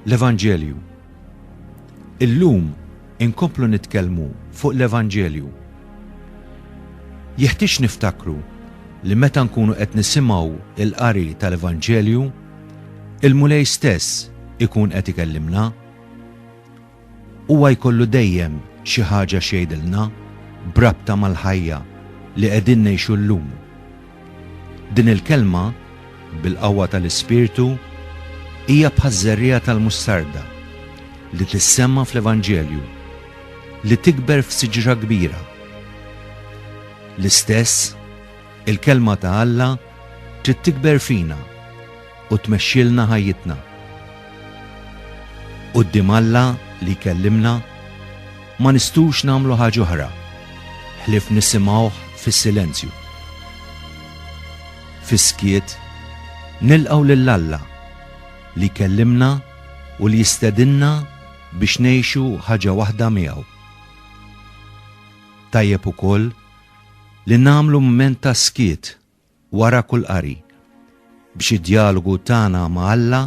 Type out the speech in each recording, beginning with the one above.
L-Evanġelju. Illum inkomplu nitkellmu fuq l-Evanġelju. Jeħtieġ niftakru li meta nkunu qed nisimgħu il-qari tal-Evanġelju, il-Mulej stess ikun qed ikellimna. Huwa jkollu dejjem xi ħaġa x'jgħidilna b'rabta mal-ħajja li qegħdin ngħixu llum. Din il-kelma, bil-qawwa tal-Ispirtu, hija bħaż-żerriegħa tal-mustarda li tissemma fl-Evanġelju, li tikber f'siġra kbira. L-istess, il-Kelma ta' Alla trid tikber fina. u tmexxilna ħajjitna. Quddiem Alla li jkellimna ma nistgħux nagħmlu ħaġa oħra ħlief nisimgħuh fis-silenzju. Fis-skiet nilqgħu lil Alla li jkellimna u li jistedinna biex ngħixu ħaġa waħda miegħu. Tajjeb ukoll li nagħmlu mument ta' skiet wara kull qari, biex id-djalogu tagħna ma' Alla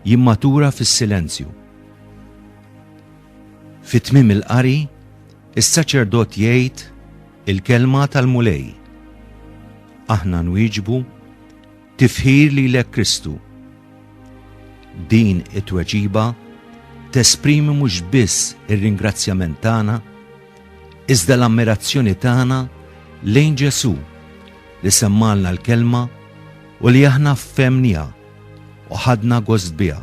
jimmatura fis-silenzju. Fi tmiem il-qari, is-saċerdot jgħid il-kelma tal-Mulej. Aħna nwieġbu, Tifħir lilek Kristu. Din it-tweġiba tesprimi mhux biss ir-ringrazzjament tagħna, iżda l-ammirazzjoni tagħna lejn Ġesù li semmalna l-kelma u li aħna fhemniha u ħadna gost biha.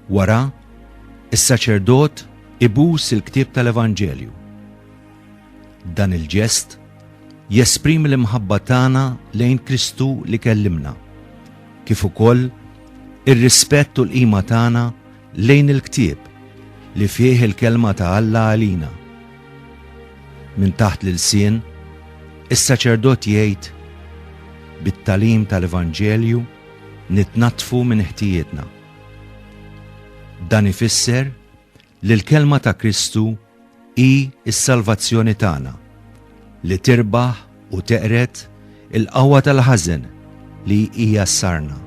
Wara, is-saċerdot ibus il-ktieb tal-Evanġelju. Dan il-ġest jesprimi l-imħabba tagħna lejn Kristu li kellimna, kif ukoll ir-rispett u l-qima tagħna Lejn il-ktieb li fih il-kelma ta' Alla għalina. Minn taħt l-ilsien, is-saċerdot jgħid, Bit-tagħlim tal-Evanġelju nitnaddfu minn ħtijietna. Dan ifisser li l-kelma ta' Kristu Hi s-salvazzjoni tagħna, li tirbaħ u teqred il-qawwa tal-ħażen li hija s-sarna.